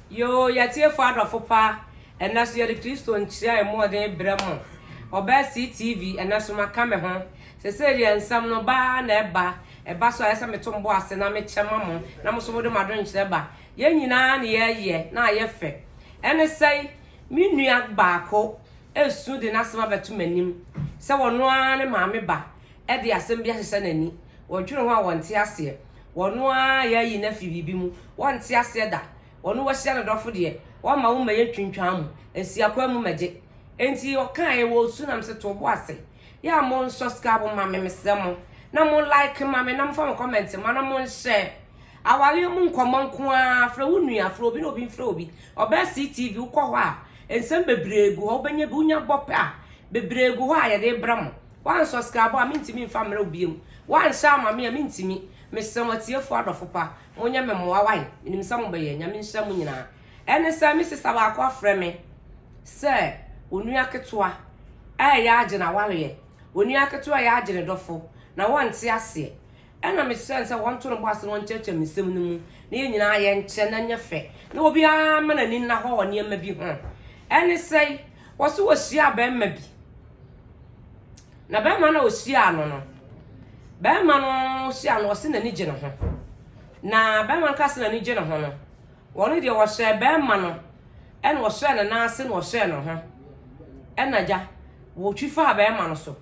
Yoo, y'atiefo adɔfo pa, ɛnnɛ so yɛde Kristo nkyerɛ a ɛmu ɔden brɛ mo. Ɔbaa CTV, ɛnnɛ so maka me ho. Sesei deɛ nsɛm no ba ara na ɛba, ɛba so a ɛyɛ sɛ meto mbo ase na mekyɛ ma mo, na mo so mode mo adwenkyerɛ ba. Yɛn nyinaa na yɛyɛ na ayɛ fɛ. Ɛne sɛn? Me nua baako resu de n'asɛm abɛto m'anim sɛ ɔno ara ne maame ba. de asɛm bi ahyehyɛ n'ani, wɔdwene ho a wɔnte aseɛ, wɔno ara yɛ ayi no afiri biribi mu, wɔnte aseɛ da, wɔno wahyia ne dɔfo deɛ, wɔmma wo mmɛyɛ ntwintwaa mu, nsi akwan mu mmɛgye. Enti ɔkaeɛ wɔ osu nam se, To bo ase, yɛ a mo nsɔskraabo mma me, mesrɛ mo, na mo like mma me, na mo fa mo comment mma, na mo nhyɛ awareɛ mu nkɔmmɔ nko ara, frɛ wo nua, frɛ obi na obi mfrɛ obi, ɔbɛyɛ CTV, wokɔ hɔ a, nsɛm bebree gu hɔ, wobɛnya bi, wonya bɔ pɛ a, bebree gu hɔ a yɛde rebrɛ mo. Woansɔskraibo a, mentumi mfa mmerɛ wo biom. Woanhyɛ ama me a, mentumi. Mesrɛ mo, atiefoɔ adɔfo pa, monyɛ me mmoa wae. Menim sɛ mobɛyɛ. Nyame nhyira mo nyinaa. Ɛne sɛ, me sista baako afrɛ me sɛ onua ketewa reyɛ agye n'awareɛ. Onua ketewa reyɛ agye ne dɔfo, na wɔnte aseɛ. Ɛna mehyɛɛ no sɛ wɔnto no bo ase na wɔnkyerɛkyerɛ me nsɛm no mu, na yɛn nyinaa yɛnkyɛ na ɛnyɛ fɛ, na obiara mma n'ani nna hɔ wɔ nneɛma bi ho. Ɛne sɛi, wɔse wɔhyiaa barima bi. Na bɛrima no a ɔhyiaa no no, bɛrima no hyia no ɔse n'ani gye ne ho. Na bɛrima no ka se n'ani gye ne ho no, wɔn deɛ wɔhyɛɛ bɛrima no ɛna ɔhyɛɛ ne nan ase na ɔhyɛɛ ne ho. Ɛna gya, wɔtwi faa bɛrima no so.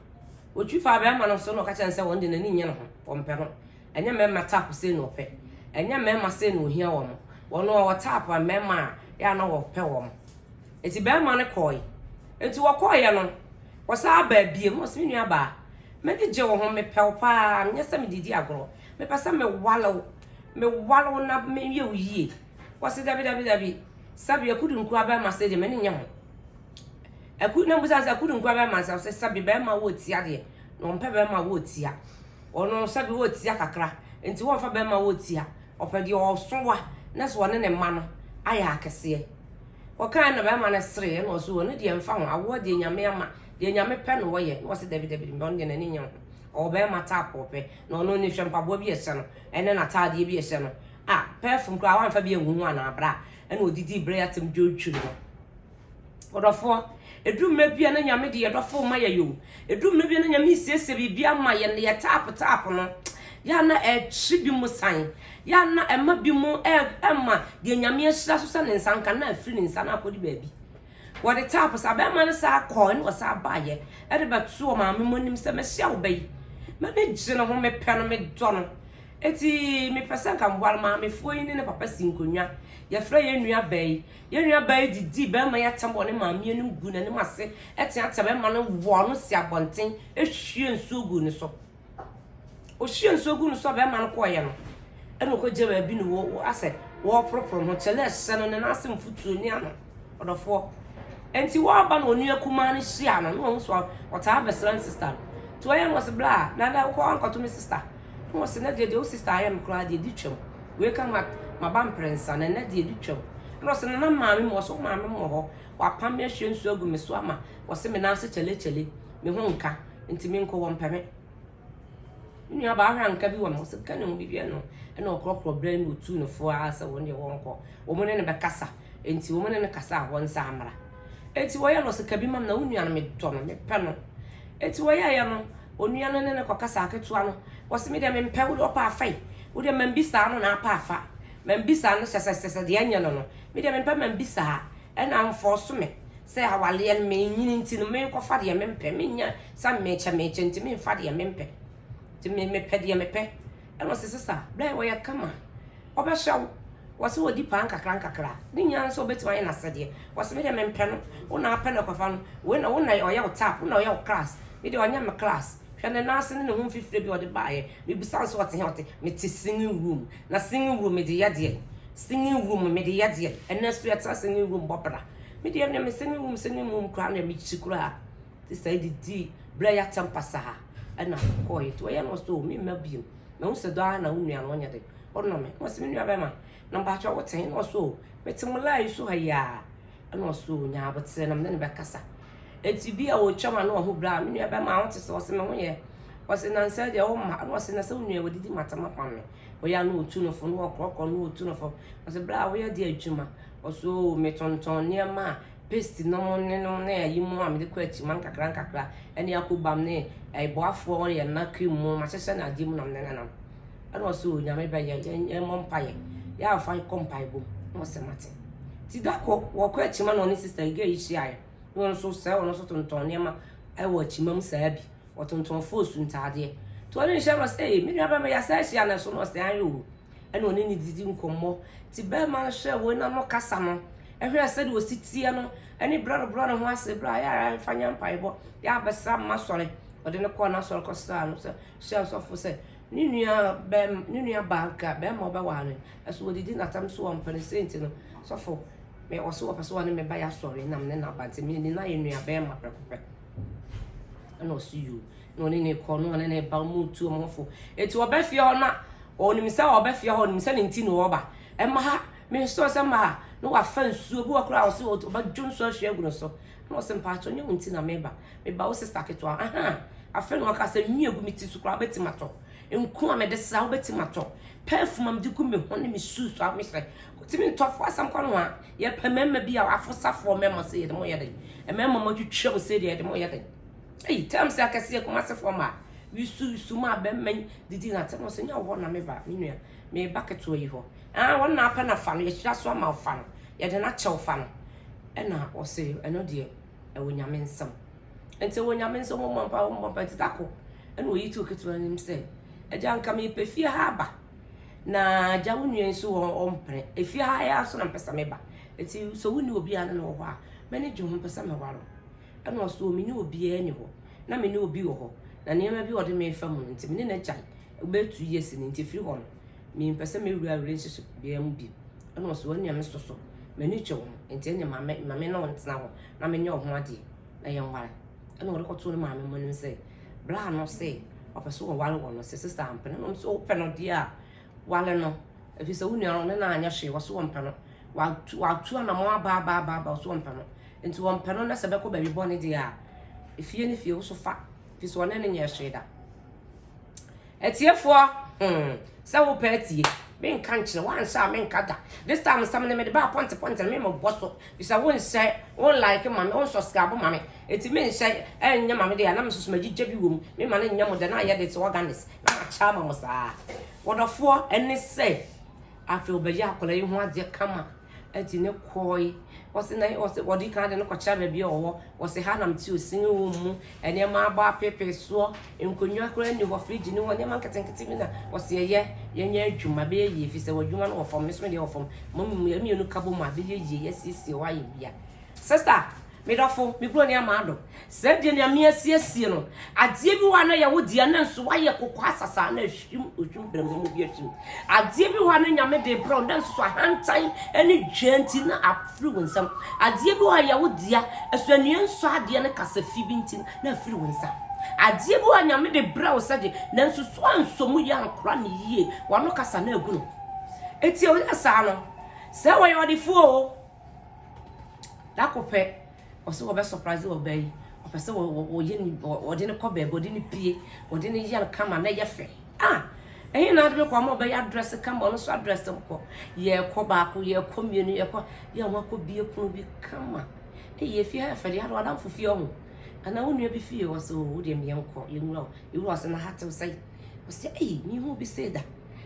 Wɔtwi faa bɛrima no so na ɔka kyerɛ no sɛ wɔn deɛ n'ani nyɛ ne ho, wɔmpɛ ho. Ɛnyɛ mmarima tap sei na wɔpɛ. Ɛnyɛ mmarima sei na wɔhia wɔn. Wɔn a wɔtap a mmarima a, yɛ a na wɔpɛ wɔn. Enti barima no kɔe. Enti wɔkɔeɛ no, wɔsan baa biom na ɔse, me nua baa, m'ani gye wo ho, mepɛ wo paa, menyɛ sɛ mede di agorɔ. Mepɛ sɛ mewale wo, mewale wo na meyɛ wo yie. Wɔse, dabi, dabi, dabi, sɛbe akudu nkoa barima sei deɛ, m'ani nyɛ ho. Aku, na mbisa no sɛ, akudu nkoa barima sei? Ɔse, sɛbe barima a ɔwɔ tia deɛ, na ɔmpɛ barima a ɔwɔ tia. Ɔno sɛbe oetsia kakra ntsi wɔmmfa bɛmma wotsia, ɔpɛ deɛ ɔɔso wa na so ɔne ne mma no ayɛ akɛseɛ. Wɔkãe na bɛrima no seree na ɔse ɔno deɛ mmfa ho, awoɔ deɛ Nyame ama, deɛ Nyame pɛ na wɔyɛ, na ɔse dabi dabi ɔno deɛ n'ani nnye ho, ɔwɔ bɛrima type a ɔpɛ, na ɔno ni hwɛ mpaboa bi a ɛhyɛ no ɛne n'ataadeɛ bi a ɛhyɛ no, ah perfume koraa wamfa bi angu ho anaa bra, ɛna ɔdidii berɛ yi atsɛm dwodwo no. Ɔdɔfoɔ, ɛduru mmerɛ bi a na Nyame de yɛn dɔfoɔ ma yɛn o, ɛduru mmerɛ bi a na Nyame resiesie biribi ama yɛn na yɛ tap tap no, yɛ a na ɛtwe bi mo san, yɛ a na ɛma bi mo ɛma deɛ Nyame ahyira so sɛ ne nsa nka na afiri ne nsa na akɔdi baabi. Wɔde tap saa bɛrima no saa kɔɔ ne wɔsaa baayɛ ɛde bɛto wɔ maame mo anim sɛ mɛhyia wo bɛyi. M'ani gye ne ho, mepɛ no, medɔ no. Eti mepɛ sɛ nka mboa no maamefoɔ yi ne ne papa si nkonnwa. Yɛfrɛ yɛn nua baa yi, Yɛn nuabaa yi de dii barima yi atɛm wɔ ne maame anim guu n'anim ase teateaa barima no, wɔɔ no sii abɔnten, hwiee nsuo guu ne so. Ɔhwiee nsuo guu ne so a barima no kɔeɛ no, ɛna ɔkɔgya baabi na wɔ wɔ asɛ wɔreporoporo ho. Kyɛlɛ ɛhyɛ no ne nan ase mfutuo ne ano. Ɔdɔfoɔ. Ɛnti wɔaba na onua kumaa no hyia no na wɔn so ɔtaa abɛsra ne sista no. Nti wɔyɛ no wɔsi bla na na wokɔ ankɔto me sista. Na wɔsi na deɛ deɛ wo sista ayɛ no koraa deɛ di twam. Wei ka ma maba mprɛnsa na nna deɛ ɛdi twam. Ɛna ɔse nana maame mu ɔse wo maame mu wɔ hɔ wapam me ahwie nsuo agu me so ama ɔse me nan ase kyale kyale me ho nka nti me nkɔ wɔmpɛ me. Me nua baa hwɛ anka bi wɔ me ɔse ka ne ho biribi ɛno ɛna ɔkorɔkorɔ brɛ no ɔtuu no fo ara sɛ wɔn deɛ wɔnkɔ wɔn ne no bɛkasa. Enti wɔne no kasa a wɔnsa mmra. Enti wɔyɛ no se, Ka bi ma me na wo nua no, medɔ no, mepɛ no. Enti wɔyɛeɛ no, onua no ne no kɔkasaa ketewa no. Ɔse, Me deɛ mempɛ, wo deɛ ɔpɛ a fa yi. Wo deɛ ma mbisaa no na apɛ a fa. Ma mbisaa no sɛsɛsɛsɛ deɛ nyɛ no no. Me deɛ mempɛ ma mbisaa. Ɛna amfɔɔso me sɛ awaleɛ no menyini nti no menkɔfa deɛ mempɛ. Mennya sa mekyɛ mekyɛ nti memfa deɛ mempɛ. Nti me mepɛ deɛ mepɛ. Ɛna ɔse sesa bɛn ɔyɛ kama ɔbɛhyɛ wo wɔse wɔdi paa nkakra nkakra ne nyinaa no sɛ ɔbɛtumi ayɛ n'asɛdeɛ wɔse me deɛ mempɛ no wo na apɛ no kɔfa no wei na wo na ɔyɛ wo tap wo na ɔyɛ wo class me deɛ ɔnyɛ me class hwɛ ne nan ase ne ne ho mfifire bi ɔde baayɛ mebisa nso ɔte hɛ ɔte mete singing room na singing room mede yɛ deɛ singing room mede yɛ deɛ ɛnɛ so yɛtena singing room bɔ bra me deɛ me singing room singing room koraa na mekyi koraa te saa de dii berɛ a yɛatɛm pasaa ɛna kɔɔɛ nti ɔyɛ no so me mma bio na wo sɛ dɔ ara na wo nua no ɔnyɛ de ɔnɔ me na ɔsɛ me nua bɛma na mpakyɛ wo tɛn na ɔso mete mo laa yi so ha yi a ɛna ɔso nyaa abotere na mene ne bɛkasa ɛti bi a ɔtwa ma na ɔho berɛ a me nua bɛma wo te sɛ ɔsɛ me ho yɛ ɔsɛ nansɛ deɛ wo ma na ɔsɛ na sɛ wo nua wɔdidi matama kwan me ɔyɛ ano ɔtu no fo na ɔkorɔkorɔ na ɔtu no fo ɔsɛ berɛ a woyɛ de adwuma ɔso metɔntɔn nneɛma a paste no mu ne no ne ayi mu a mede kɔ akyima nkakra nkakra ne akobam ne ɛboafoɔ wɔyɛ nna cream mu mahyehyɛ no adeɛ mu na mede nenam ɛna ɔsɛ o nyame bɛyɛ yɛmmɔ mpaeɛ yɛ amfa kɔ mpae bom na ɔsɛ mate ti da kɔ wɔkɔ akyima na ɔne sista yi gaa yi hyiaeɛ na ɔno nso sɛ ɔno nso tontɔn nneɛma ɛwɔ akyima mu saa bi ɔtontɔn foosu ntaadeɛ nti ɔne nhyɛ no sɛ ee me nua bɛma yɛasa ahyia no so na ɔsɛ ayɛ o ɛna ɔne no didi nkɔmmɔ. Nti barima no hwɛɛ wɔn ano kasa no, hwɛɛ sɛdeɛ ɔsi teɛ no, ne berɛ a ɔrebrɛ ne ho ase, berɛ a yɛ ara mfa nyɛ mpaebɔ, yɛ ara bɛsra mma asɔre. Ɔde no kɔɔ n'asɔre kɔsraa no sɛ, hyɛɛ ɔsɔfo sɛ ne nua bɛm, ne nua baa nka barima ɔbɛwaa no, ɛso ɔdidi n'atam so ɔmpɛ no, sei nti no, sɔfo, me, ɔse ɔpɛ sɛ ɔne me ba yɛ asɔre na me ne no aba, nti me ne no ayɛ nua barima prɛko pɛ. Ɛna ɔse yoo. na ɔne ne kɔ na ɔne ne ba mu tu wɔn fo eti ɔbɛ fie hɔ na ɔnim sɛ ɔbɛ fie hɔ ɔnim sɛ ne nti na ɔba ɛma ha me nso sɛ ma ha na wafa nsuo bi wɔ koraa ɔsɛ ɔbɛ dwo nsuo ahwie agu ne so na ɔsɛ mpaatɔ nyɛ wɔn nti na meba meba wo sista ketewa ahan afei na ɔka sɛ nwi egu me ti so koraa ɔbɛti ma tɔ nko a mɛde sra ɔbɛti ma tɔ pɛɛfum a mɛde gu me ho ne me su so a mehyɛ ɔtumi ntɔfo asɛm kɔ no ho a yɛpɛ mɛɛma bi a afo safoɔ mɛɛma sɛ yɛde mo yɛ den mɛɛma mo atwitwa mu sɛ deɛ yɛde mo yɛ den. Ei terms akɛseɛ Kumasefoɔ mmaa Yusu yusu maa bɛmma yi didi na atɛm so nyɛ wo hɔ na me ba me nua me ba ketewa yi hɔ ah wɔn na apɛ na fa no yɛhyira so ama wo fa no yɛde no akyɛ wo fa no ɛna ɔse ɛno deɛ ɛwɔ nyame nsɛm nti ɛwɔ nyame nsɛm wɔmmɔ mpa wɔmmɔ mpa nti tako ɛna ɔyi to ketewa nim sɛ agya nka mepɛ fie ha aba na agya wo nua nso wɔn ɔmpene efie ha yɛ aso na mpɛ sɛ me ba ɛti sɛ wonni obiara ne no wɔ hɔ a m'ani gye ho mpɛ sɛ mɛware Ɛna ɔse o mene obiaa ni hɔ na mene obi wɔ hɔ na nneɛma bi a ɔde me refa mu no nti mene no agyae ɛbɛyɛ two years ni nti ɛfiri hɔ no mempɛ sɛ mɛwura relationship biaa mu bio ɛna ɔse ɛnea me sɔ so m'ani twɛ wo ho nti ɛnea ma me ma me ne wo ntena hɔ na menyɛ wo ho adeɛ na yɛnware ɛna ɔde kɔtoo ne maame mu anim sɛ bra no sɛ ɔpɛ sɛ ɔware wɔ no sɛ sista ampɛ no na ɔm sɛ wopɛ no deɛ a Wale no, ɛfiri sɛ wo nua no ne no anyɛ hwee, wɔso wɔmpɛ no. Watu, watu anamɔ aba aba aba aba, wɔso wɔmpɛ no. Nti wɔmpɛ no na sɛ bɛkɔ baabi bɔne deɛ a, efie ne fie, woso fa, ɛfiri sɛ wɔne no nyɛ hwee da. Atiefoɔ, hmm, sɛ wopɛ atie, menka nkyerɛ, woanhyɛ a menka da. This time nsɛm no mede baa pɔnte pɔnte no memebɔ so, ɛfiri sɛ wonhyɛ, wonlike ma me, wonsɔskrabo ma me, ɛti menhyɛ ɛnyɛ ma me deɛ a na mesusu magyegya bi wɔ mu, mema no nyɛ mo dɛ na ayɛ de sɛ organis. Akyɛ ama mo saa. Wɔdɔfoɔ ne sɛ afei ɔbɛyɛ akwadaa yi ho adeɛ kama ɛti ne kɔɔe wɔsi na wɔsi wɔde kan de no kɔkyerɛ baabi a ɔwɔ wɔsi ha nam ti osini wɔ mu nneɛma abɔ apeepee soɔ nkonnwa koraa ni hɔ firigye ni hɔ nneɛma nketenkete bi na wɔsi ɛyɛ yɛnyɛ adwuma bɛyɛ yie fi sɛ wɔ adwuma no wɔ fam ne so deɛ wɔ fam mo mmienu ka bɔ mu a bɛyɛ yie yɛsiesie hɔ ayɛ bia Sister, me dɔfo, me kuro ne amado. Sɛ deɛ nyame asiesie no, adeɛ bi hɔ a na yɛ wo deɛ na nso wayɛ koko asasa na ahwim ohwim brɛmbrɛm obi ahwim. Adeɛ bi hɔ a na nyame de brɛ wo na nso ahantan ne dwɛ nti na afiri wo nsam. Adeɛ bi hɔ a yɛ wo deɛ ɛso anua nsɔ adeɛ ne kasa fi bi nti na afiri wo nsa. Adeɛ bi hɔ a nyame de brɛ wo sɛ de na nso so ansɔ mu yɛ ankora ne yie wano kasa na agu no. Eti ɔyɛ saa no, sɛ wɔyɛ ɔdefoɔ o, Da kor pɛ, ɔse wɔbɛ surprise ɔbaa yi, ɔpɛ sɛ wɔyɛ no bi, wɔde no kɔ baabi, wɔde no pue, wɔde no yɛ no kama na ɛyɛ fɛ. Ah! Ɛhe na ade bɛkɔ ama ɔbɛyɛ adrɛse kama, ɔno nso adrɛse nkɔ. Yɛkɔ baako, yɛkɔ mmienu, yɛkɔ, yɛ ho akɔ bie pono bi kama. Eyi efie ha yɛ fɛ de, ade wadamfo fie ɔho. Anaa wo nua bi fie, ɔse o, wo deɛ meɛ nkɔ, yɛnwura o. Yɛwura ɔse na ha tew sɛi. Ɔse ei, mehu obi sei da.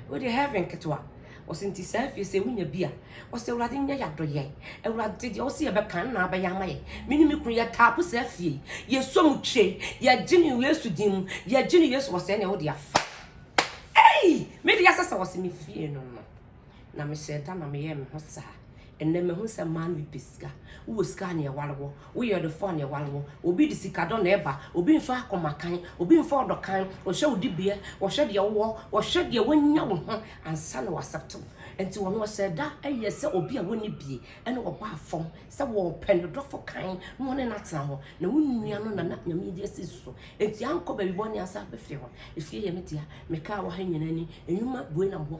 Wo deɛ heaven ketewa. Ɔse nti saa afie sɛ wonya bi a ɔse awurade nyɛ yadɔyɛ awurade deɛ ɔse yɛbɛka nna abɛyɛ ama yɛ me ne me kunu yɛ taapo saa afie yɛsɔ mu twe yɛgye ne yesu din mu yɛgye ne yesu ɔsɛ nea wode afa ei me deɛ sɛ sɛ ɔse me fie no no na mehyɛ da na meyɛ me ho saa Ɛnnɛ mahu sɛ mmaa no bi pɛ sika. Wowɔ sika a na ɛware wo. Woyɛ ɔdefo a na ɛware wo. Obi de sikadɔ na ɛba. Obi nso akoma kann. Obi nfa ɔdɔ kann. Ɔhwɛ wo dibea. Ɔhwɛ deɛ wowɔ. Ɔhwɛ deɛ wanya wo ho ansa na w'accept wo. Nti ɔno ɔhyɛɛ da yɛɛ sɛ obi a ɔnni bie ɛna ɔbaa fam sɛ ɔɔpɛ ne dɔfo kann na ɔne no atena hɔ. Na wo nua no na na Nyame adi asi ne so. Nti ankɔ baabi bɔne ansa abɛfiri hɔ. Efie yɛ me dea. Mekaa wɔ ha nyinaa ni. Nnwuma bue nam hɔ.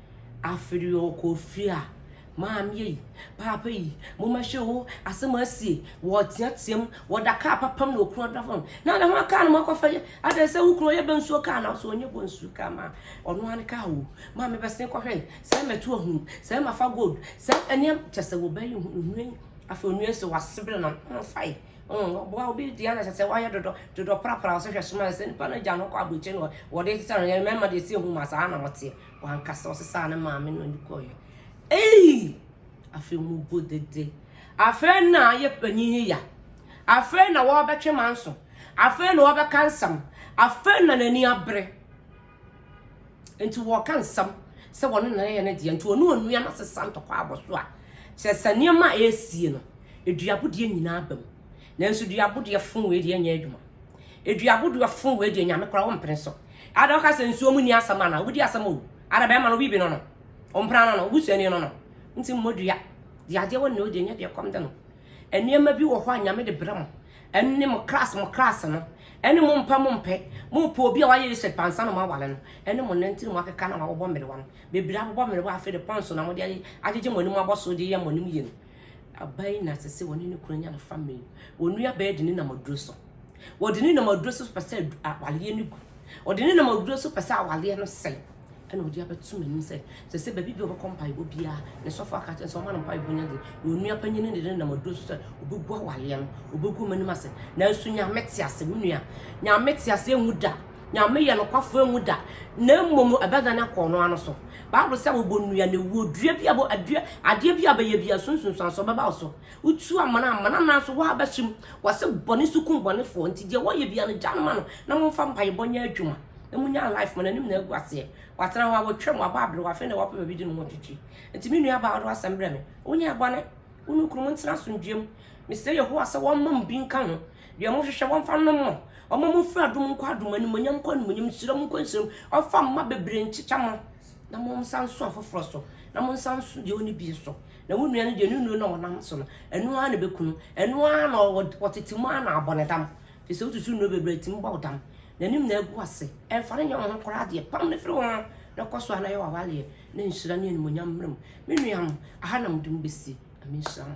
Aferi ɔkɔ fie a, maame ei, paapa ei, moma hwɛ o, asɛm asie, wɔteatea mu, wɔda kaa papam na okunu ɔda fam. Na ne ho a kaa no ma kɔfa yɛ, adɛn sɛ wo kunu ɔyɛ bɛ nsuo kaa na so ɔnyɛ bɔ nsuo kaa ma ɔno ara ne kaa o. Maame bɛsen kɔhwɛ, sɛ mɛto ahunu, sɛ mafa gold, sɛ ɛneɛm kyɛ sɛ wɔbɛ yi nhunu yi. Afei onua yi sɛ wasebere na ho fa yi. Ɔboa obi deɛ na kyɛ sɛ wayɛ dodɔ, dodɔ prapra ɔsɛ hwɛ soma sɛ nipa no agya no kɔ aburokyire no wɔde sɛ no yɛ mɛma deɛ si ehu ma saa na wɔteɛ. Wankasa ɔsesaa ne maame na ɔde kɔeɛ. Eii! Afei mobu dede. Afei na yɛ panyin yi ya. Afei na wɔbɛtwe manso. Afei na wɔbɛka nsɛm. Afei na n'ani abere. Nti wɔka nsɛm sɛ wɔne na yɛ ne deɛ. Nti ɔne onua no asesa ntɔkwa abɔ so a, kyerɛ sɛ nneɛma a ɛresie no, aduabodeɛ nyinaa aba mu. Nanso dua bo deɛ fon wei deɛ nyɛ adwuma. Edua bo dua fon wei deɛ nyame kora wompene so. Ada ɔka sɛ nsuo mu ni asɛm ana wobɛdi asɛm o. Ada bɛrima no bibi no no. Ɔmpena no no obusuani no no. Nti mmɔ dua. Deɛ adeɛ wɔ ne o deɛ nyɛ deɛ kɔm de no. Nneɛma bi wɔ hɔ a nyame de brɛ mo. Ɛne mo kras mo kras no. Ɛne mo mpɛ mo mpɛ. Mo pɛ obi a wayɛ research pansa na mo awale no. Ɛne mo nanti na mo akeka na wabobɔ mmerewa no. Bebree abobɔ mmerewa afei de pɔnso na mo de agyegye mo anim abɔ so de yɛ mo anim yie no. Aba yi na sese wɔne ne kunu anya no family. Wɔn nua bɛyɛ de ne nam aduro so. Wɔde ne nam aduro so pɛ sɛ awaleɛ no gu. Wɔde ne nam aduro so pɛ sɛ awaleɛ no sɛe. Ɛna wɔde abɛto m'anim sɛ sɛ sɛ baabi bi wɔbɛkɔ mpaebɔ biara ne sɔfo aka kyerɛ sɛ ɔma no mpaebɔ nya de na onua panyin no de ne nam aduro so sɛ obɛgu awaleɛ no obɛgu m'anim ase nanso nyame te ase wo nua nyame te ase ɛnwu da Nyame yɛ nokwafo enwu da, na mbom no ɔbɛdan akɔ ɔno ara no so. Bible sɛ wɔbɔnua na ewuo, dua bi a bɔ adua adeɛ bi a bɛyɛ bia so nsunsuansoɔ bɛba wo so. Wotu amana a amana nanso wo ara bɛhyɛ mu. Wɔse bɔne so kum bɔnefoɔ, nti deɛ wɔyɛ bia no gya no ma no na momfa mpaebɔ nyɛ adwuma na munya life ma n'anim na agu aseɛ. Watena hɔ a watwam, wabɔ abere, wafei na wapɛ baabi de ne ho atwitwi. Nti me nua baa wode w'asɛm brɛ me, wonyɛɛ bɔne, wo ne wo kunu montena asomdwoeɛ mu. Mesrɛ Yehowa sɛ ɔmma mo bi nka ho. Deɛ mo hwehwɛ wɔmfa nnom mo. Ɔma mo firi adom nkɔ adom, animonyam nkɔ animonyam, nhyira mu nkɔ nhyira mu. Ɔfa mma bebree nkyekyɛ mo. Na mo nsa nso afoforɔ so. Na mo nsa nso deɛ ɔne bi so. Na wo nua no deɛ ne nuro na ɔnam so no. Ɛno ara na ɛbɛkunu. Ɛno ara na ɔtete mu ara na abɔ ne dam. Firi sɛ wosusu nnuro bebree ɛtumi bɔ wo dam. N'anim na agu ase. Ɛmfa no nyɛ wo ho koraa deɛ. Pam no firi wo ho na kɔ so ara na yɛ w'awaleɛ na nhyira ne animonyam mmra mu. Me nua mo, aha na mode mo bɛsi. Nyame nhyira mo.